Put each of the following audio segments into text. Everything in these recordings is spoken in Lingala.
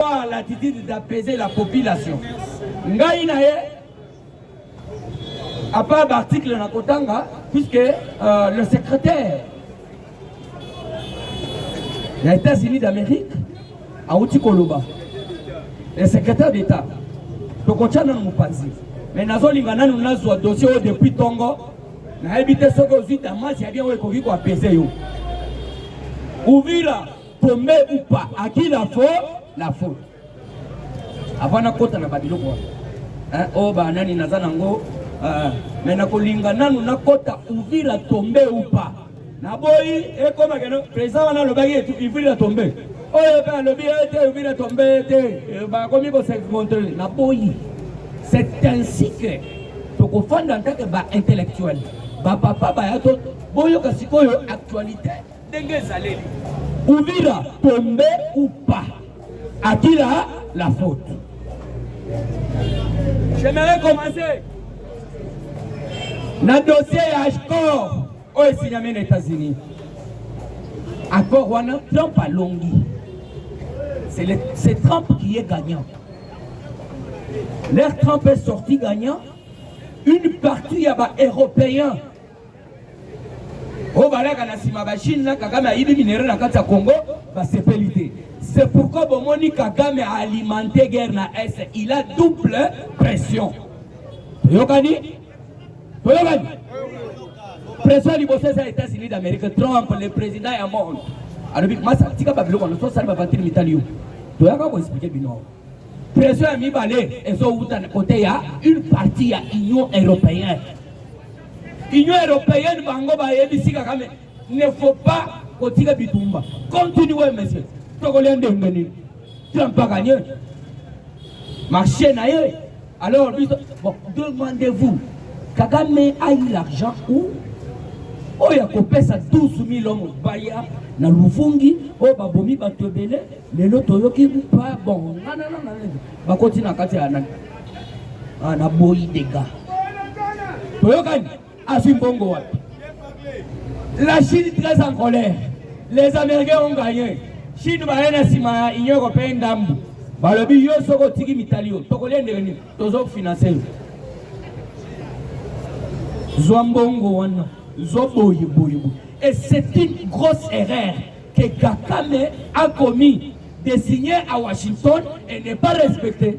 Par l'attitude d'apaiser la population. Ngai na ye à part l'article na kotanga puisque euh, le secrétaire ya États-Unis d'Amérique auti koloba le secrétaire d'État tokotya nanu mopanzi mais nazolinga nanu nazwa dossier oyo depuis tongo nayebi te soki ozwi damasi ya bien oyo ekoki koapese yo uvira Tombe ou pas, à qui la faute La faute. Avant nakota na babiloko wana. Hein, oh ba nani naza nango euh, mais nakolinga nanu nakota Uvira tombe ou pas. Naboyi ekoma keno président wana alobaki etu Uvira tombe. Oyo pe alobi ete eh, Uvira tombe ete eh, eh, bakomi ko se montrer. Naboyi. C'est ainsi que tokofanda en tant que ba intellectuel. Ba papa ba yato boyoka sikoyo actualité ndenge ezaleli uvira tombe ou pas akila la faute j'aimerais commencer na dossier ya accord oyo esinyami na états-unis accord wana trump alongi c'est trump qui est gagnant leur trump est sorti gagnant une partie ya baeuropéen oyo balaka na nsima bachine na kagame ayibi minere na kati ya congo basepeli te c'est pourquoi bomoni kagame aalimente guerre na est il a double pression toyokani toyokani pression ya liboso eza états-unis d'amérique trump le président ya monde alobi masa tika babiloko wana tosali bavantiri mitali yo toyaka koexplike bino pression ya mibale ezowuta kote ya une partie ya union européenne Union européenne bango bayebisi Kagame ne faut pas kotika bitumba. Continuez monsieur. Tokolia ndenge nini? Trump aganye marché na ye alors biso bon demandez-vous Kagame a eu l'argent où oyo akopesa 12 000 hommes baya na luvungi oyo babomi bato ebele lelo toyoki pa bon ngananana bakoti na kati ya nani ana boyi dega toyokani azwi mbongo wapi la chine très en colère les américains ont gagné chine baye na nsima ya union européen ndambu balobi yo soki otiki mitali yo tokolia ndenge nini tozofinanse yo zwa mbongo wana zwa boye boye boye et c'est une grosse erreur que kakame a commis de signer à washington et ne pas respecter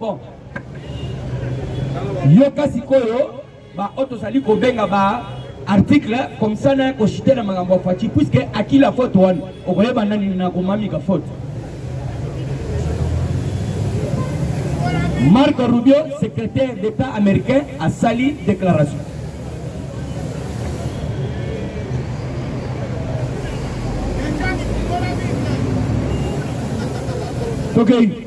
Bon. Yoka sikoyo ba oyo tozali kobenga ba article comme ça na koshite na makambo ya Fatshi puisque akila faute wana okoyeba nani na komamika faute. Marco Rubio, secrétaire d'État américain, a sali déclaration. Okay.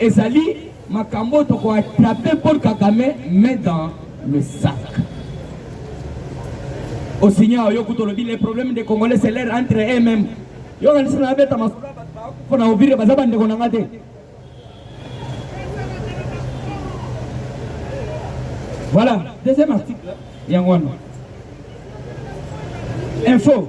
Ezali makambo oyo toko attraper Paul Kagame mais dans le sac. Osinya oyo kutu olobi les problèmes des Congolais c'est leur entre eux-mêmes. Yo kanisi na beta masolo mpo na ovire baza bandeko na nga te. Voilà, deuxième article yango wana. Info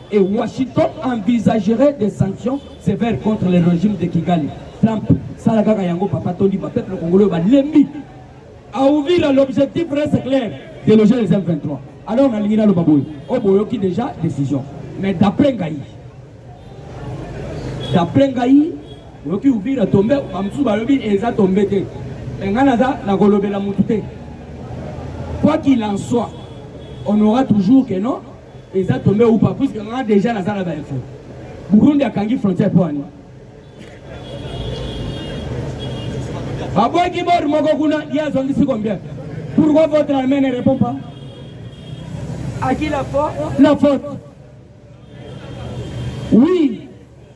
Et Washington envisagerait des sanctions sévères contre le régime de Kigali. Trump, sala kaka yango papa tondima peuple congolais balembi. À Uvira l'objectif reste clair, déloger les M23. Alors on a nalingi naloba boye, oboyoki oh, déjà décision. Mais d'après ngai, d'après ngai, oyoki Uvira tombe, bamosusu balobi eza tombe te. Ngai naza nakolobela motu te. Quoi qu'il en soit, on aura toujours que non eza tombe ou pas puisque nga déjà naza na ba info Burundi akangi frontière mpo ani babwaki bor moko kuna ye azongisi combien pourquoi votre armée ne répond pas à qui la faute la faute oui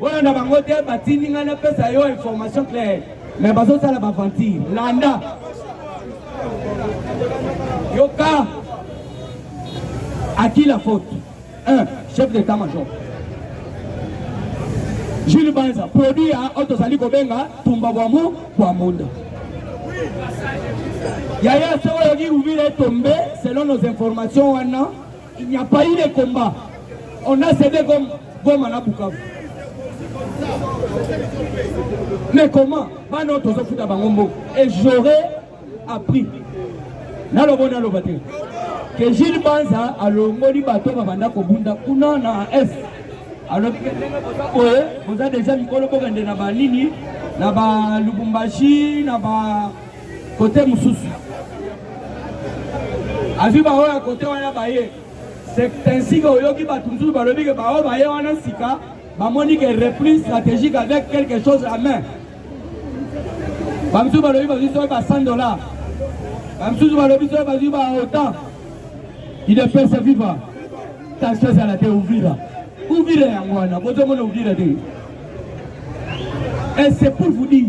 Bolanda bango te batindi ngai napesa yo information claire me bazosala baventure landa yoka à qui la faute un chef d'état major jules banza produit ya oyo tozali kobenga tumba bwamu bwa munda yaya se oyoki uvile tombe selon nos informations wana Il n'y a pas eu de combat. On a cédé comme Goma na Bukavu. Mais comment Bano tozo futa bango mbo. Et j'aurais appris. Nalobo naloba te. Que Gilles Banza alongoli bato babanda kobunda kuna na est. alobi ke ndenge boza boye boza deja mikolo bokende na banini na balubumbashi na ba kote mosusu azwi baoyo ya kote wana baye sensike oyoki bato mosusu balobi ke baoyo baye wana sika bamoni ke repli stratégique avec quelque chose à main bamosusu balobi bazwi soki ba 100 dollar bamosusu balobi soki bazwi ba otan idepese viva tension ezala te uvira uvira yango wana bozomona uvira te et c'est pour vous dire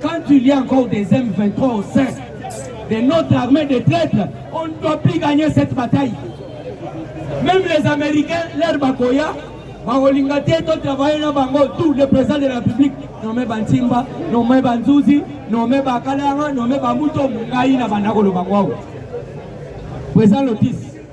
Quand il y a encore des M23 au sein de notre armée de traîtres, on ne doit plus gagner cette bataille. Même les Américains, leur bakoya, bakolinga te to travailler na bango tout le président de la République nommé Bantimba, nommé Banzuzi, nommé Bakalanga, nommé Bamuto, ngai na banda koloba kwao. Président Lotis,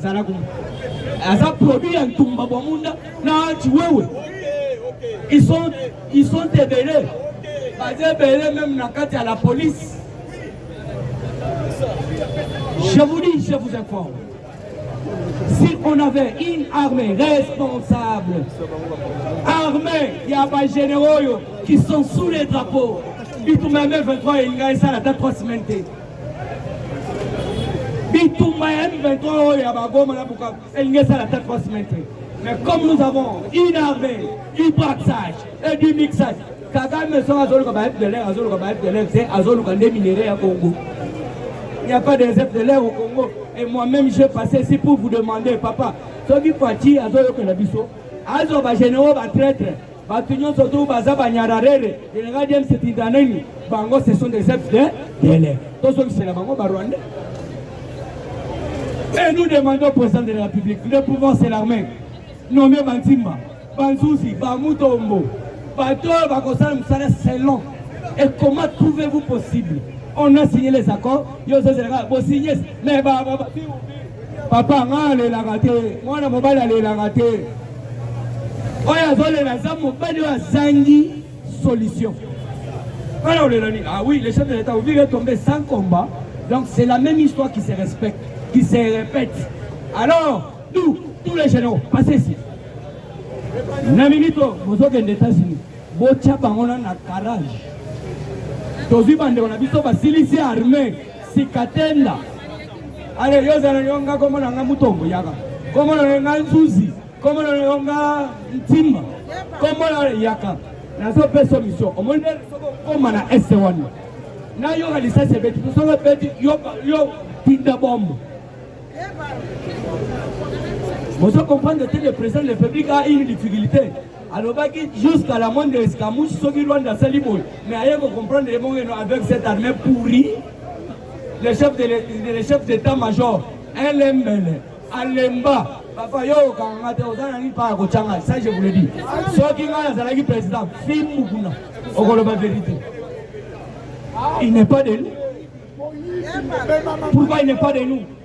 zala kuma aza produit ya ntumba bwa munda na chiwewe ils sont ils sont ebele baza ebele même na kati ya la police je vous dis je vous informe si on avait une armée responsable armée ya ba généraux oyo qui sont sous les drapeaux bitumba ya 23 elinga esala ata 3 semaine te Bitumba ya M23 oyo ya Bagoma na Bukavu elingi esala ata 3 semaine te. Mais comme nous avons une armée, du braxage et du mixage, Kagame soki azoluka ba FDLR azoluka ba FDLR te azoluka nde minerais ya Congo. Il n'y a pas des FDLR au Congo. Et moi-même j'ai passé ici pour vous demander papa soki Fatshi azoyokela biso azwa ba généraux ba traître Batu nyonso tu baza ba nyararere, General James Tinda nini? Bango ce sont des œufs de lait. Tozongisela bango ba Rwandais. Et nous demandons au président de la République, le pouvoir c'est l'armée. Nommé Bantimba, Banzuzi, Bamutombo, bato bakosala mosala selon et comment trouvez-vous possible on a signé les accords yo ozozelaka bosignes me papa nga alelaka te mwana mobali alelaka te oyo azolela aza mobali oyo azangi solution wana olela nini ah oui le chef de l'état vous vivez tombé sans combat donc c'est la même histoire qui se respecte qui se répète alors nous tous les généraux passez ici na minute bozokende états-unis Botia bango na na garage. Tozwi bandeko na biso basilisi arme sikatenda. Ale yo zana yo nga komona nga mutombo yaka. Komona nga nzuzi. Komona yo nga ntimba. Komona yaka. Nazo peso mission. Omoni soko koma na este wana. Na yo kalisa sebeti. Soko beti yo yo tinda bombo. Vous comprenez que le président de la République a une difficulté alobaki jusqu'à la moindre escamouche soki Rwanda asali boye mais aye ko comprendre ye bongo eno avec cette armée pourrie le chef de le chef d'état major elembele alemba papa yo okanga nga te oza na nini mpa ya kotyanga ça je vous le dis soki ngai nazalaki président fimbu kuna okoloba vérité il n'est pas de nous pourquoi il n'est pas de nous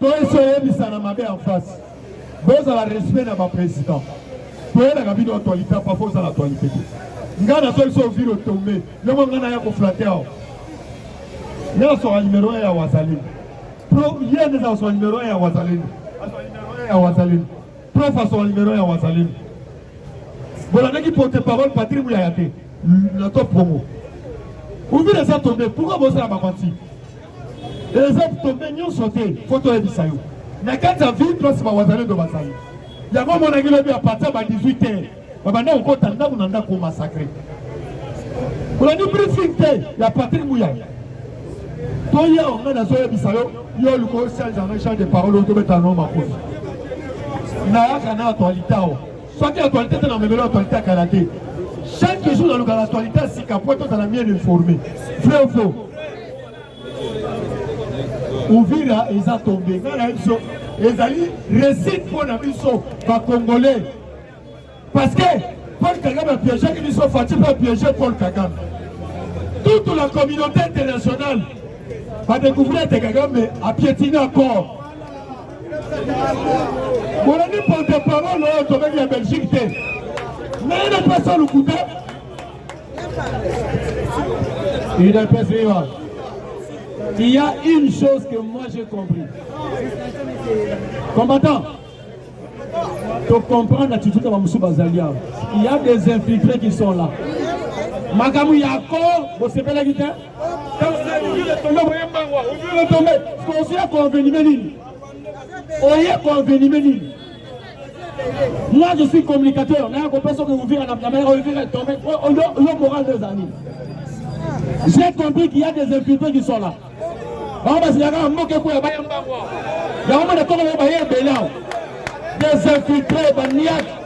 To esi oyebisana mabe en face. Bozala respect na ba president. Toyelaka bino actualité pa fo ozala actualité te. Nga na so biso viro tombe. Lemo nga na ya ko flatter awa. Nga so numero ya wazali. Pro yende za so numero ya wazali. Aso numero ya wazali. Prof aso numero ya wazali. Bolandaki porte parole Patrick Muyaya te. Na to promo. Uvira sa tombe. Pourquoi bozala ba menti? Reserve tombe nyonso te fo toyebisa yo na kati ya ville place bawazalendo bazali yango omonaki lobi ya partir ba 18 heures babanda kokota ndako na ndako masacre olandi briefing te ya patrik muyaya toya onga nazoyebisa yo yo oluka osanzanga champ de parole otobeta no makofi nayaka na actualité awa soki actualité te na memelo actualité ya kala te chaque jour nalukaka actualité ya sika po tozala bien informe vrai ou faux uvira eza tombe ngai na biso ezali réussite mpo na biso bacongolais parce que paul kagame apiégeki biso fati mpe apiége paul kagame toute la communauté internationale badécouvrir ete kagame apiétine accord bolandi porte parole oyo tobeki ya belgique te naye na place ya lokuta udps viva il y a une chose que moi j'ai compris combattant tocomprendre na tituka bamosusu bazali awa il y a des infiltrés qui sont là makambo ya ko bosepelaki te oye koenvenime nini oye koenvenime nini moi je suis communicateur naya kopesa oke uvira na mama yako uvira etombe yo moral de ezali j'ai compris qu'il y a des infiltrés qui sont là bango basilaka na mboka ekoya baya mbango yango mona toko baye ebele awa des infiltrés baniaki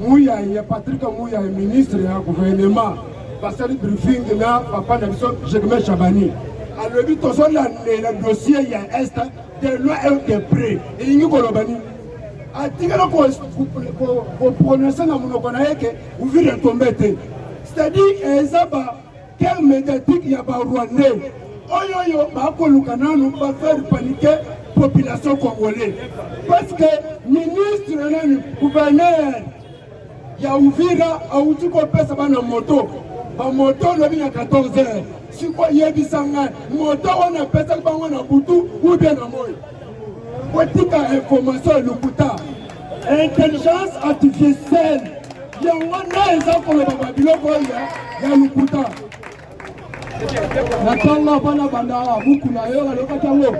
Muyaye Patrick Muyaye ministre ya gouvernement basali briefing na papa na biso Germain Chabani alobi tozolandela dossier ya est de loin et de près elingi koloba nini atikala koprononce na monoko na ye ke uvira etombe te c'est-à-dire eza ba Quel mediatique ya ba rwandais oyo yo bakoluka nanu ba faire paniquer population congolais parce que ministre nani gouverneur ya Uvira awuti kopesa bana moto bamoto lobi na 14 heures sikoyo yebisa ngai moto wana apesaki bango na butu ubie na moi kotika information ya lokuta intelligence artificielle yango nde eza koloba babiloko oyo ya lokuta na ntango abana bandaka buku na yo alobaki yango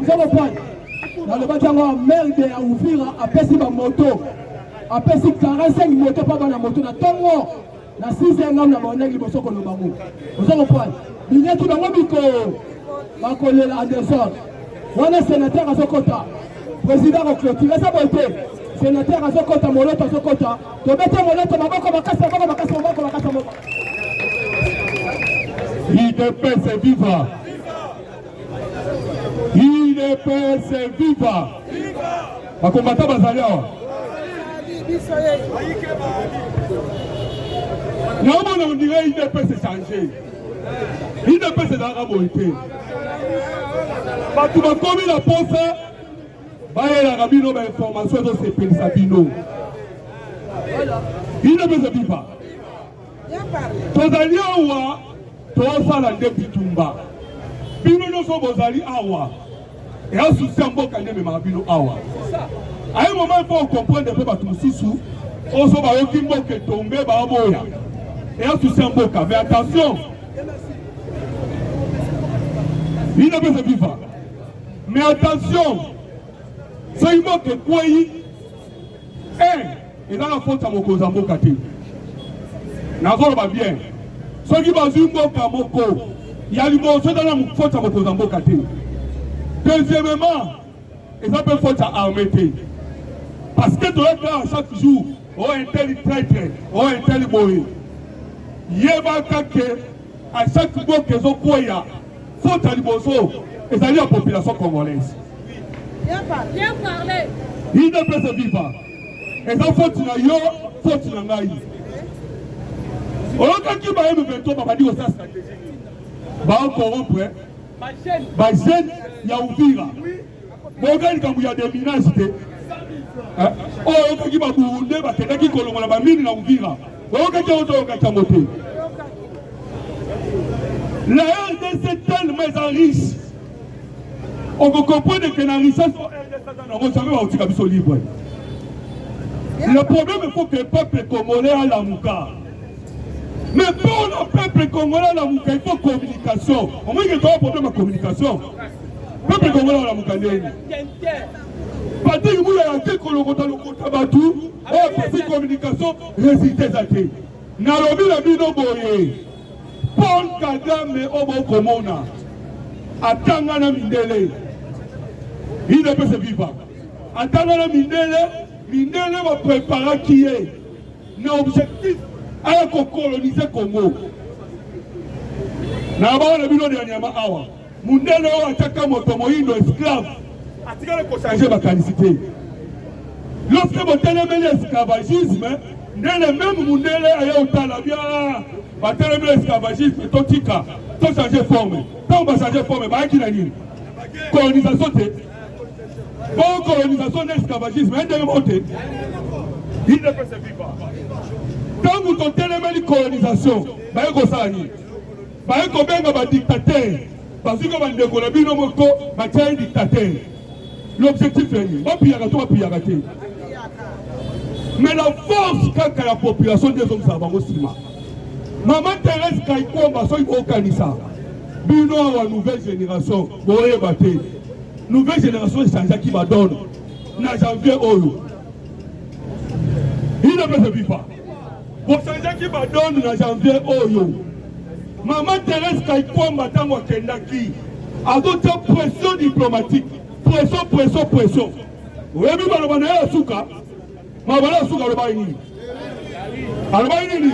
nzambe pwani nalobaki yango amerde ya uvira apesi bamoto apesi 45 moto mpo bana moto na ntongo na 6 ya ngambo na baonaki liboso koloba ngo oza kopwani binyaki bango biko bakolela anderson wana senateur azokota président akoclotire eza boye te senateur azokota moloto azokota tobete moloto maboko makasi maboko makasi maboko makasi maboko idps viva idps viva bakombata bazali awa naomona ondire idps echange udps ezalaka boye te bato bakomi na posa bayelaka bino bainformation ezosepelisa bino udps ebipa tozali awa tosala nde bitumba bino nyonso bozali awa eya susi ya mboka nde ememaka bino awa aye moma mpo okomprendre mpe bato mosusu oso bayoki mboka etombe baboya eya susi ya mboka mais attention bino mpe ezobiva mais attention soki mboka ekwei Eh, ezaka faute ya mokonzi ya mboka te. Nazoloba bien. Soki bazwi mboka moko ya liboso eza na faute ya mokonzi ya mboka te. Deuxièmement, eza mpe faute ya armée te. Parce que toyaka chaque jour, oh un tel traitre, oh un tel boye. Yebaka que A chaque mboka ezokweya faute ya liboso ezali ya population congolaise. Udps viva eza faute na yo, faute na ngai. Oyokaki ba M23 babandi kosala strategie nini? Baokorrompre ba jeune ya Uvira. Oui. boyoka likambo ya deminage te eh, oyo oh, oyokoki baburunde bakendaki kolongola bamini na uvira boyokaki yango toyokaki yango te la rdc tellement eza riche okokomprendre ke na richesse o rdc aza nango jamai bakotika biso libre le problème faut que peuple congolais alamuka Mais pour le peuple congolais, la Mouka, il faut communication. Au moins, il y a un problème de communication. Le peuple congolais, la Mouka, Patrick Moula, il y a un kolokota lokota batu, oh, parce communication, résultat zate. Nalobi la bino boye. Paul Kagame obo oh, komona. Atanga na mindele. Il ne peut se vivre. Atanga na mindele, mindele va préparer qui est. na objectif aya ko coloniser Congo na bao na bino dernièrement awa mundele oyo ataka moto moyindo esclave atikali kochanger makanisi te lorsque botelemeli esclavagisme ndele meme mundele aye otala bia batelemeli esclavagisme totika tochange forme ntango bachange forme bayaki na nini colonisation te Bon colonisation na esclavagisme ya ndenge moko te idepese viva ntango totelemeli colonisation baye kosala nini baye kobenga badictateur bazwika bandeko na bino moko batya ye dictateur l'objectif ya nini bapiyaka to bapiyaka te mais la force kaka ya population nde ezongisaka bango nsima mama therese kaikomba soki bokanisa bino awa nouvelle génération boyeba te Nouvelle generation echangeaki badone na janvier oyo ino mpe viva bochangeaki badone na janvier oyo mama therese kaikwamba ntango akendaki azotya pression diplomatique pression pression pression oyebi maloba na ye ya suka maloba na ya suka alobaki nini alobaki nini